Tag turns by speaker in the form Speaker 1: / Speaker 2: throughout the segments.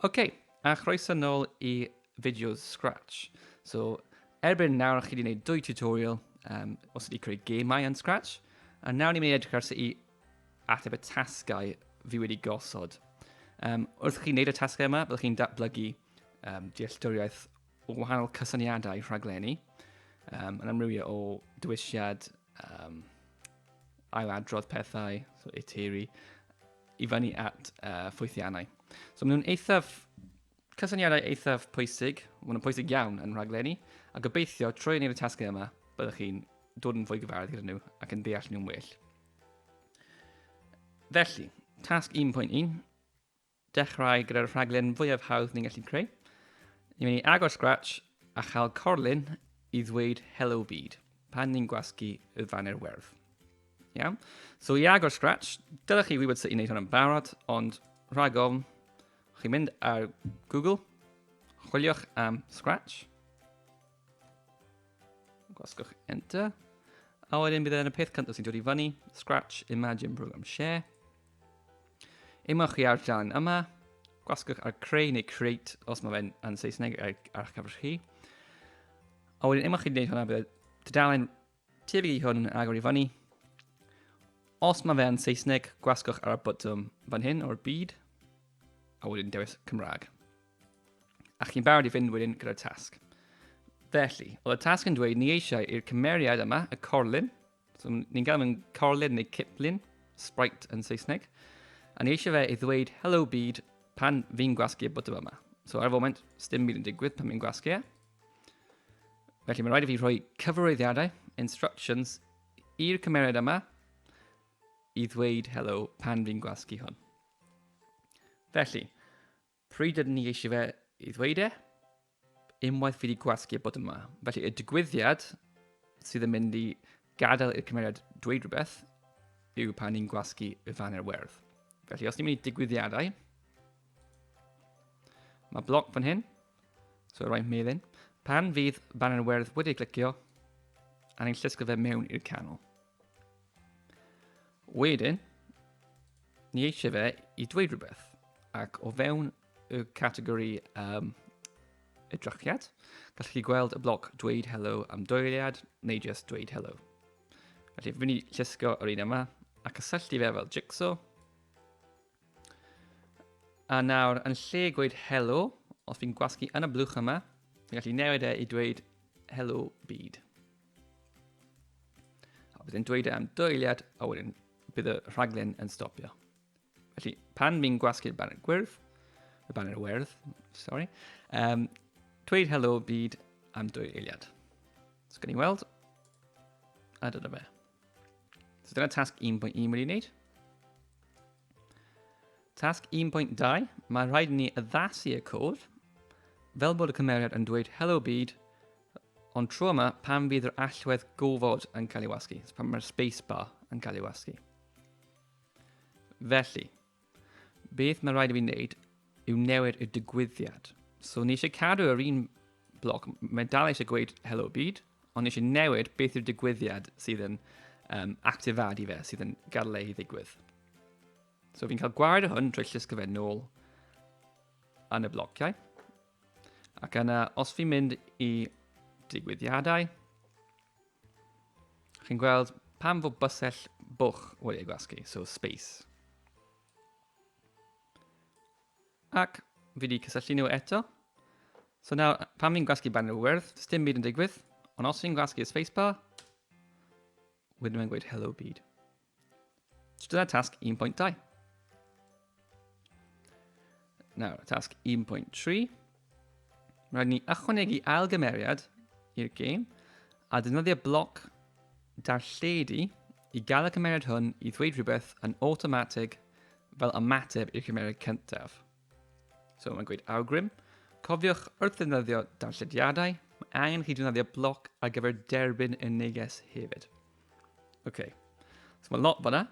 Speaker 1: Ok, a chroeso nôl i fideos Scratch. So, erbyn nawr chi wedi gwneud dwy tutorial um, os ydy creu gemau yn Scratch, a nawr ni'n mynd i edrych ar sut i ateb y tasgau fi wedi gosod. Um, wrth chi wneud y tasgau yma, byddwch chi'n datblygu um, dealltwriaeth o wahanol cysyniadau rhaglenni, um, yn amrywio o dywisiad, um, ailadrodd pethau, so eteri, i fyny at uh, ffwythiannau. So maen nhw'n eithaf, cysyniadau eithaf pwysig, maen nhw'n pwysig iawn yn rhaglenni, a gobeithio trwy wneud y tasgau yma, byddwch chi'n dod yn fwy gyfarwydd gyda nhw ac yn deall nhw'n well. Felly, tasg 1.1, Dechrau gyda'r rhaglen fwyaf hawdd ni'n gallu creu. Ni'n mynd i agor Scratch a chael corlun i ddweud Hello Byd pan ni'n gwasgu y faner werdd. Iawn? So i agor Scratch, dylech chi wybod sut i wneud hwn yn barod, ond rhag ofn, chi'n mynd ar Google, chwiliwch am Scratch, gwasgwch Enter, a wedyn bydd e yn y peth cyntaf sy'n dod i fyny, Scratch Imagine Program Share. Ymwch chi ar dan yma, gwasgwch ar creu neu create os mae fe'n yn Saesneg ar, ar eich cyfer chi. A wedyn ymwch chi'n gwneud hwnna, bydd y dudalen tebyg i hwn yn agor i fyny. Os mae fe'n Saesneg, gwasgwch ar y botwm fan hyn o'r byd, a wedyn dewis Cymraeg. A chi'n barod i fynd wedyn gyda'r tasg. Felly, oedd y tasg yn dweud ni eisiau i'r cymeriad yma, y corlun, So, ni'n gael mewn corlid neu ciplun, sprite yn Saesneg. A ni eisiau fe i ddweud hello byd pan fi'n gwasgu y botwm yma. So ar y foment, stym byd yn digwydd pan fi'n gwasgu e. Felly mae'n rhaid i fi rhoi cyfarwyddiadau, instructions, i'r cymeriad yma i ddweud hello pan fi'n gwasgu hwn. Felly, Pryd ydyn ni eisiau fe i ddweud e? Unwaith fi wedi gwasgu a bod yma. Felly y digwyddiad sydd yn mynd i gadael i'r cymeriad dweud rhywbeth yw pan ni'n gwasgu y fan i'r werdd. Felly os ni'n mynd i digwyddiadau, mae bloc fan hyn, so roi melin. Pan fydd fan i'r werdd wedi clicio, a ni'n llusgo fe mewn i'r canol. Wedyn, ni eisiau fe i dweud rhywbeth. Ac o fewn y categori um, edrychiad, gallwch chi gweld y bloc dweud hello am doiliad neu just dweud hello. Felly, fi'n mynd i llusgo yr un yma a cysylltu fe fel jigsaw. A nawr, yn lle gweud hello, os fi'n gwasgu yn y blwch yma, fi'n gallu newid e i dweud hello byd. A bydd yn dweud e am dy eiliad a wedyn bydd y rhaglen yn stopio. Felly, pan fi'n gwasgu'r banner gwyrdd, y banner werdd, sorry, um, dweud helo byd am dwy eiliad. So, gan i weld, a dyna fe. So, dyna tasg 1.1 wedi wneud. Tasg 1.2, mae rhaid ni addasu y cod fel bod y cymeriad yn dweud helo byd Ond tro yma, pan fydd yr allwedd gofod yn cael ei wasgu, pan mae'r space bar yn cael ei wasgu. Felly, beth mae rhaid i fi wneud yw newid y digwyddiad. So, ni eisiau cadw yr un blog, mae dal eisiau gweud hello byd, ond eisiau newid beth yw'r digwyddiad sydd yn um, actifadu fe, sydd yn gadael ei ddigwydd. So fi'n cael gwared o hwn drwy llysgrifau nôl yn y blociau. Ac yna, os fi'n mynd i digwyddiadau, chi'n gweld pam fod bysell bwch wedi ei gwasgu, so space. Ac fi wedi cysylltu nhw eto. So nawr, pam fi'n gwasgu barn wyrdd, does dim byd yn digwydd, ond os fi'n gwasgu spacebar, wedyn mae'n gweud hello byd. So dyna tasg 1.2. Nawr, tasg 1.3. Rhaid ni ychwanegu ailgymeriad i'r gêm a defnyddio bloc darlledu i gael y cymeriad hwn i ddweud rhywbeth yn awtomatig fel ymateb i'r cymeriad cyntaf. So mae'n gweud awgrym. Cofiwch wrth ddefnyddio darllediadau, mae angen chi defnyddio bloc ar gyfer derbyn y neges hefyd. OK. So mae lot fanna.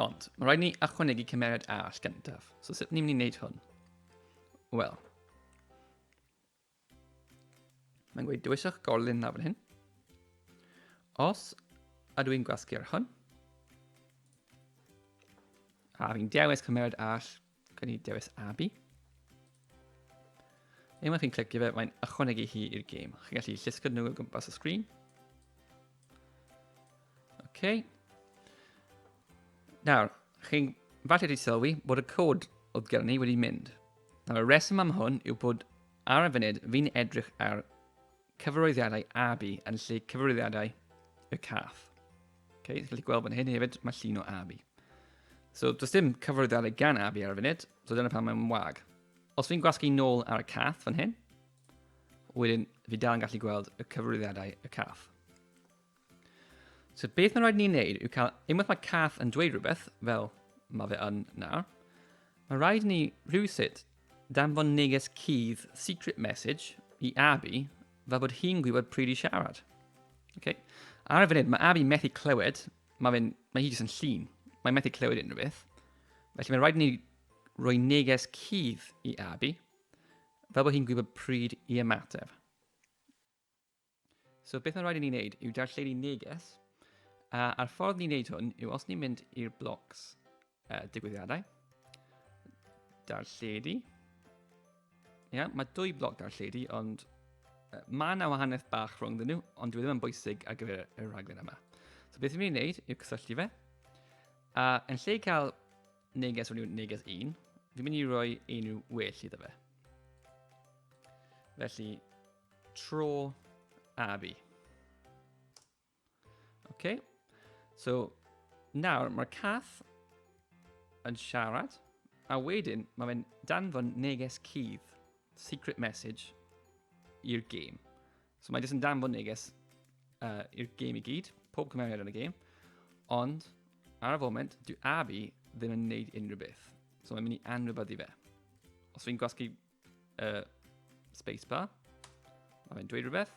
Speaker 1: Ond, mae rhaid ni achwanegu cymeriad arall gyntaf. So sut ni'n mynd i wneud hwn? Wel. Mae'n gweud, dewiswch gorlun na fan hyn. Os ydw i'n gwasgu ar hwn, a fi'n dewis cymeriad all, gan i dewis Abby. Unwaith chi'n clicio fe, mae'n ychwanegu hi i'r gêm. Chi'n gallu llusgo nhw o gwmpas y sgrin. OK. Nawr, chi'n falle wedi sylwi bod y cod oedd gen ni wedi mynd. Nawr y rheswm am hwn yw bod ar y funud fi'n edrych ar cyfarwyddiadau AB yn lle cyfarwyddiadau y cath. Okay, chi'n gallu gweld fan hyn hefyd, mae llun o AB. So, does dim cyfarwyddiadau gan AB ar y funud, so dyna pan mae'n wag. Os fi'n gwasgu nôl ar y cath fan hyn, wedyn fi dal yn gallu gweld y cyfarwyddiadau y cath. So beth mae'n rhaid ni'n neud yw cael, unwaith mae cath yn dweud rhywbeth, fel mae fe yn nawr, mae rhaid ni rhywsut danfon neges cudd secret message i Abby fel bod hi'n gwybod pryd i siarad. Okay? Ar y funud, mae Abby methu clywed, mae, fe, mae hi jyst yn llun, mae'n methu clywed unrhyw beth. Felly mae'n rhaid ni roi neges cudd i Abby fel bod hi'n gwybod pryd i ymateb. So beth mae'n rhaid i ni wneud yw darlledu neges, a a'r ffordd ni'n wneud hwn yw os ni'n mynd i'r blocs uh, digwyddiadau, darlledu, ia, mae dwy bloc darlledu, ond uh, mae yna wahaniaeth bach rhwng dyn nhw, ond dwi e ddim yn bwysig ar gyfer y rhaglen yma. So beth ni'n wneud yw cysylltu fe, a yn lle cael neges rhwng neges 1, fi'n mynd i roi unrhyw well iddo fe. Felly, Tro a fi. OK. So, nawr mae'r cath yn siarad, a wedyn mae fe'n danfon neges cudd, secret message, i'r gêm. So mae jyst yn danfon neges uh, i'r gêm i gyd, pob cymeriad yn y gêm, ond ar y foment, dwi Abi ddim yn neud unrhyw beth. So mae'n mynd i anwybyddu fe. Os fi'n gwasgu Uh, spacebar. Mae fe'n dweud rhywbeth.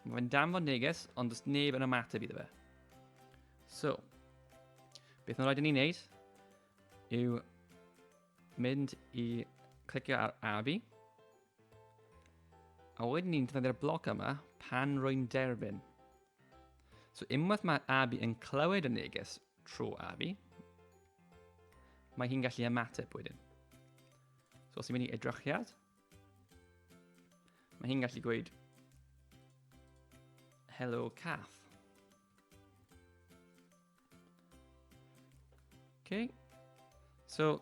Speaker 1: Mae fe'n danfod neges, ond does neb yn ymateb iddo fe. So, beth mae'n rhaid i ni wneud yw mynd i clicio ar Abi. A wedyn ni'n defnyddio'r bloc yma pan rwy'n derbyn. So unwaith mae Abi yn clywed y neges tro Abi, mae hi'n gallu ymateb wedyn. So os ti'n mynd i edrychiad, mae hi'n gallu gweud Hello Cath. Okay. So,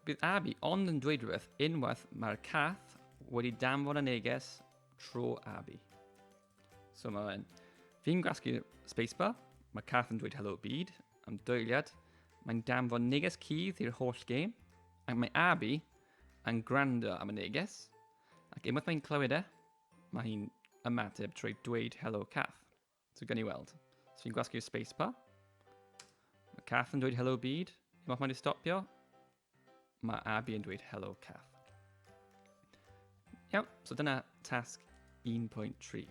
Speaker 1: bydd Abby ond yn dweud rhywbeth unwaith mae'r cath wedi danfon y neges tro Abby. So mae fe'n... Fi'n gwasgu spacebar, mae Kath yn dweud hello byd, am doeliad, mae'n danfod neges cudd i'r holl gêm, ac mae Abi yn gwrando am y neges, ac unwaith mae'n clywed e, mae hi'n ymateb trwy dweud hello Kath. So gan i weld. So fi'n gwasgu'r spacebar, mae Kath yn dweud hello byd, unwaith mae'n stopio, Mae Abby yn dweud hello Kath. Iawn, so dyna tasg 1.3.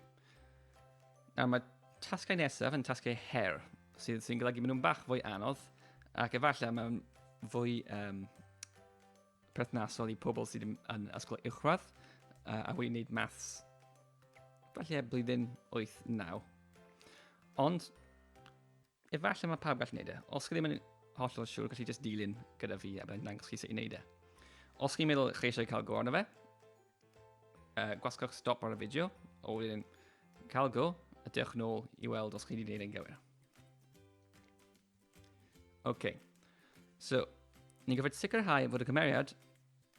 Speaker 1: Nawr mae tasgau nesaf yn tasgau her, sydd sy'n golygu maen nhw'n bach fwy anodd, ac efallai mae'n fwy um, perthnasol i pobl sydd yn ysgol uwchradd uh, a wedi wneud maths falle blwyddyn 8-9. Ond Efallai mae pawb gallu gwneud e. Os chi ddim yn hollol siŵr, gallu just dilyn gyda fi a byddai'n dangos chi sut i wneud e. Os chi'n meddwl chi eisiau cael go arno fe, uh, gwasgwch stop ar y fideo, o wedyn cael go, a dewch yn ôl i weld os chi wedi gwneud e'n gywir. OK. So, ni'n gyfod sicrhau fod y cymeriad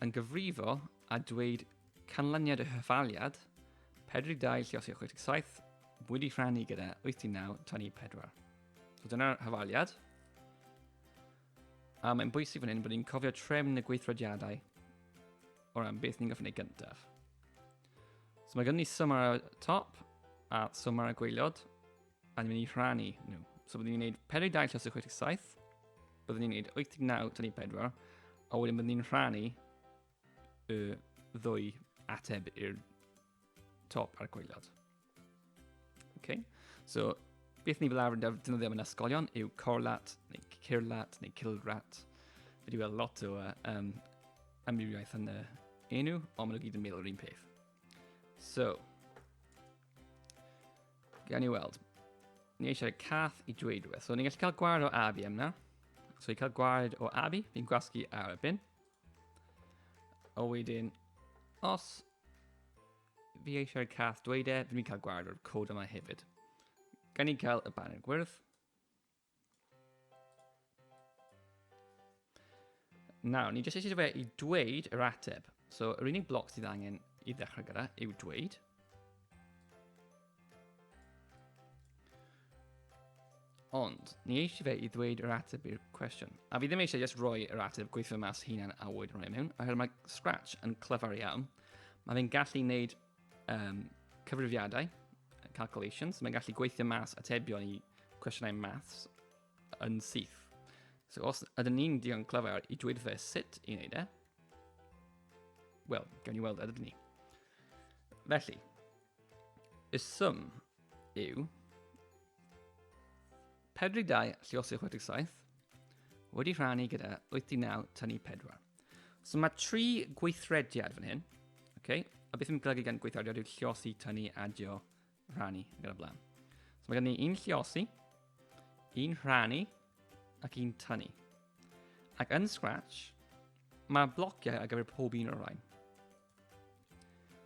Speaker 1: Yn gyfrifo a dweud canlyniad y hyffaliad, 42 lliosio 67, wedi rhannu gyda 89 tani 4. So dyna'r hyfaliad. A mae'n bwysig fan hyn bod ni'n cofio trefn y gweithrediadau o ran beth ni'n gofyn ei gyntaf. So mae gen i swm ar y top a swm ar y gweiliod. A ni'n mynd i rhannu nhw. So byddwn ni'n gwneud 42 llysydd 67, byddwn ni'n gwneud 89 tynnu 4, a wedyn byddwn ni'n rhannu y ddwy ateb i'r top a'r gweilod. Okay? So, beth ni fel arfer yn defnyddio mewn ysgolion yw corlat, neu cirlat, neu cilrat. Fe di weld lot o um, amrywiaeth yn y enw, ond maen nhw gyd yn meddwl yr un peth. So, Gan i weld. Ni eisiau cath i dweud rhywbeth. So, ni'n gallu cael gwared o Abi am na. So, i cael gwared o Abi, fi'n gwasgu ar y bin. O wedyn, os fi eisiau cath dweud e, fi'n cael gwared o'r cod yma hefyd. Gan i cael y banner gwyrdd. Nawr, ni jyst eisiau fe i dweud yr ateb. So, yr unig bloc sydd angen i ddechrau gyda yw dweud. Ond, ni eisiau fe i ddweud yr ateb i'r cwestiwn. A fi ddim eisiau just rhoi yr ateb gweithio mas hunan a wyd rhoi mewn, oherwydd mae Scratch yn clyfar iawn. Mae fe'n gallu wneud um, cyfrifiadau, calculations, mae'n gallu gweithio mas atebion i cwestiynau maths yn syth. So os ydyn ni'n digon clyfar i dweud fe sut i wneud e, wel, gawn ni weld ydyn ni. Felly, y sum yw Pedridau Lluosi 67, wedi rhannu gyda 89 tynnu 4. So mae tri gweithrediad fan hyn. Okay? A beth yn golygu gan gweithrediad yw lliosi, tynnu, adio, rhannu, ac yn y blaen. So mae gen ni un lliosi, un rhannu, ac un tynnu. Ac yn Scratch, mae blociau ar gyfer pob un o'r rhain.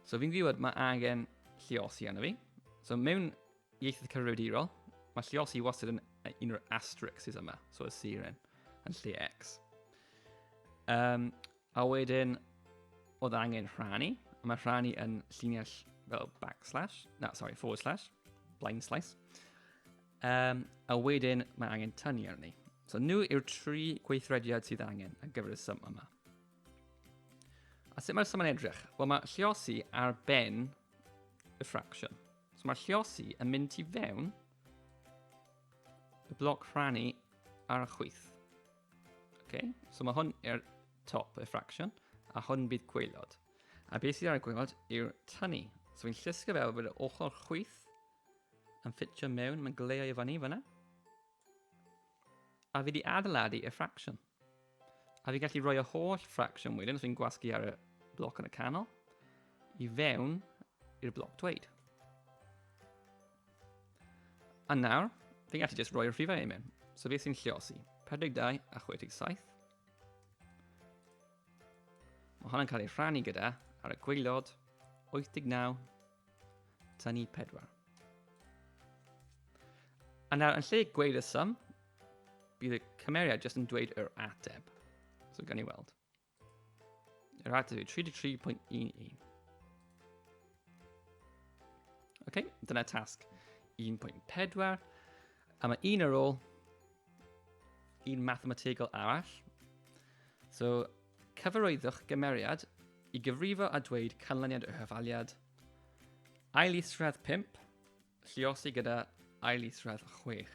Speaker 1: So fi'n gwybod mae angen lliosi arno fi. So mewn Ieithoedd cyfrifiadurol, mae lleol sydd wastad yn un o'r asterixes yma, so y siren, yn lle X. Um, a wedyn, oedd angen rhannu, a mae rhannu yn llinell fel backslash, na, sorry, forward slash, blind slice. Um, a wedyn, mae angen tynnu arni. So nhw yw'r tri gweithrediad sydd angen ar gyfer y sym yma. A sut mae'r sym yn edrych? Wel, mae lliosi ar ben y fraction. So mae llosi yn mynd i fewn y bloc rhannu ar y chwyth. Okay? So mae hwn i'r top y fraction, a hwn bydd gweilod. A beth sydd ar y gweilod yw'r tynnu. So fi'n llusgo fel bod yr ochr chwyth yn ffitio mewn, mae'n gleio i fyny fyna. A fi di adeiladu y fraction. A fi gallu rhoi y holl fraction wedyn, os fi'n gwasgu ar y bloc yn y canol, i fewn i'r bloc dweud. A nawr, fi'n gallu just roi'r rhifau i mewn. So fi sy'n lliosi 42 a 67. Mae hwnna'n cael ei rhannu gyda ar y gweilod 89 Tynnu pedwar. A nawr, yn lle gweud y sum, bydd y cymeriad jyst yn dweud yr ateb. So gan i weld. Yr ateb yw 33.11. OK, dyna tasg 1.4. A mae un ar ôl, un mathemategol arall. So, Cyfarwyddwch gymeriad i gyfrifo a dweud canlyniad y hyfaliad. Ail isradd 5, lliosi gyda ail isradd 6.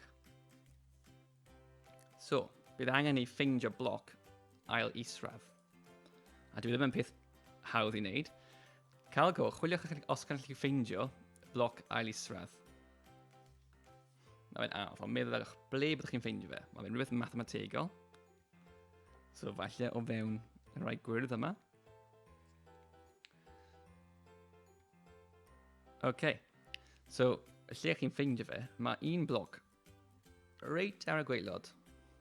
Speaker 1: So, bydd angen i ffeindio bloc ail isradd. A dwi ddim yn peth hawdd i wneud. Cael go, chwiliwch os gan chi ffeindio bloc ail isradd. Mae'n anodd, ond meddwl ble byddwch chi'n ffeindio fe. Mae'n rhywbeth mathemategol. So falle o fewn y rhai gwyrdd yma. OK. So, lle chi'n ffeindio fe, mae un bloc reit ar y gweilod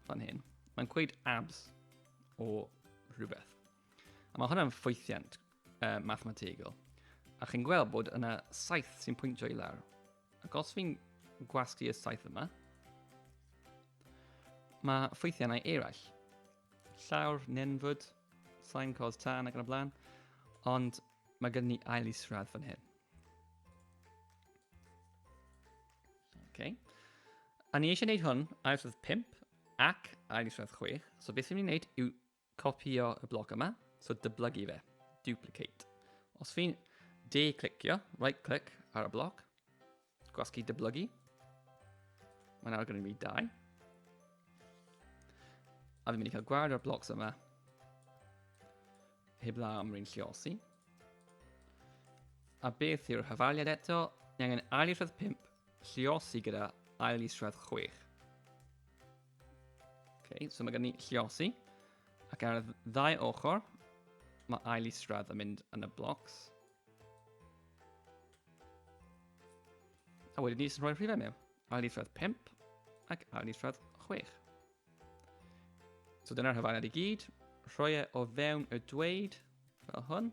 Speaker 1: fan hyn. Mae'n gweud abs o rhywbeth. A mae hwnna'n ffwythiant uh, mathemategol. A chi'n gweld bod yna saith sy'n pwyntio i lawr. Ac os fi'n gwasgu y saith yma, mae ffwythiannau eraill. Llawr, nenfwd, sain cos tân ac yn y blaen, ond mae gen ni ail isradd fan hyn. Okay. A ni eisiau gwneud hwn ail isradd 5 ac ail isradd 6, so beth sy'n mynd i wneud yw Copïo y bloc yma, so dyblygu fe, duplicate. Os fi'n de-clicio, right click ar y bloc, gwasgu dyblygu, mae'n awr gyda fi dau. A fi'n mynd i cael gwared o'r blocs yma, heb la am rwy'n lliosi. A beth yw'r hyfaliad eto? Ni angen ail isradd 5, lliosi gyda ail isradd 6. Okay, so mae gen ni lliosi. Ac ar y ddau ochr, mae ail isradd yn mynd yn y blocs. A wedyn ni sy'n rhoi'r rhifau mewn. Ail isradd 5 ac ail isradd 6. So dyna'r hyfaniad i gyd. Rhoi e o fewn y dweud fel hwn.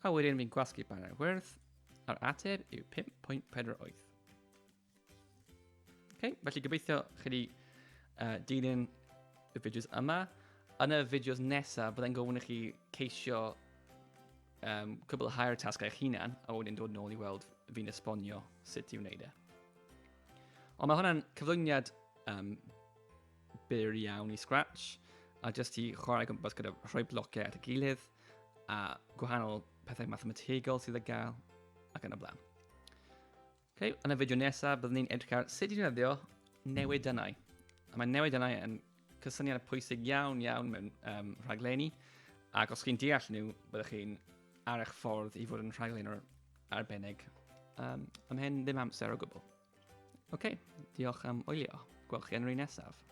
Speaker 1: A wedyn fi'n gwasgu barnau'r wyrdd a'r ateb yw 5.48. Okay, felly gobeithio chi wedi uh, dilyn y fideos yma. Yn y fideos nesaf, byddai'n gofyn i chi ceisio um, cwbl higher task eich hunan, a wedyn dod yn ôl i weld fi'n esbonio sut i wneud e. Ond mae hwnna'n cyflwyniad um, byr iawn i Scratch, a jyst i chwarae gwmpas gyda rhoi blociau at y gilydd, a gwahanol pethau mathemategol sydd y gael, ac yn y blaen. Okay, yn y fideo nesaf, byddwn ni'n edrych ar sut i ddefnyddio newidynnau. A mae newidynnau yn cysyniad pwysig iawn iawn mewn um, rhaglenni, ac os chi'n deall nhw, byddwch chi'n ar eich ffordd i fod yn rhaglen o'r arbennig um, ymhen ddim amser o gwbl. Oce, okay, diolch am wylio. Gwelch chi yn yr un nesaf.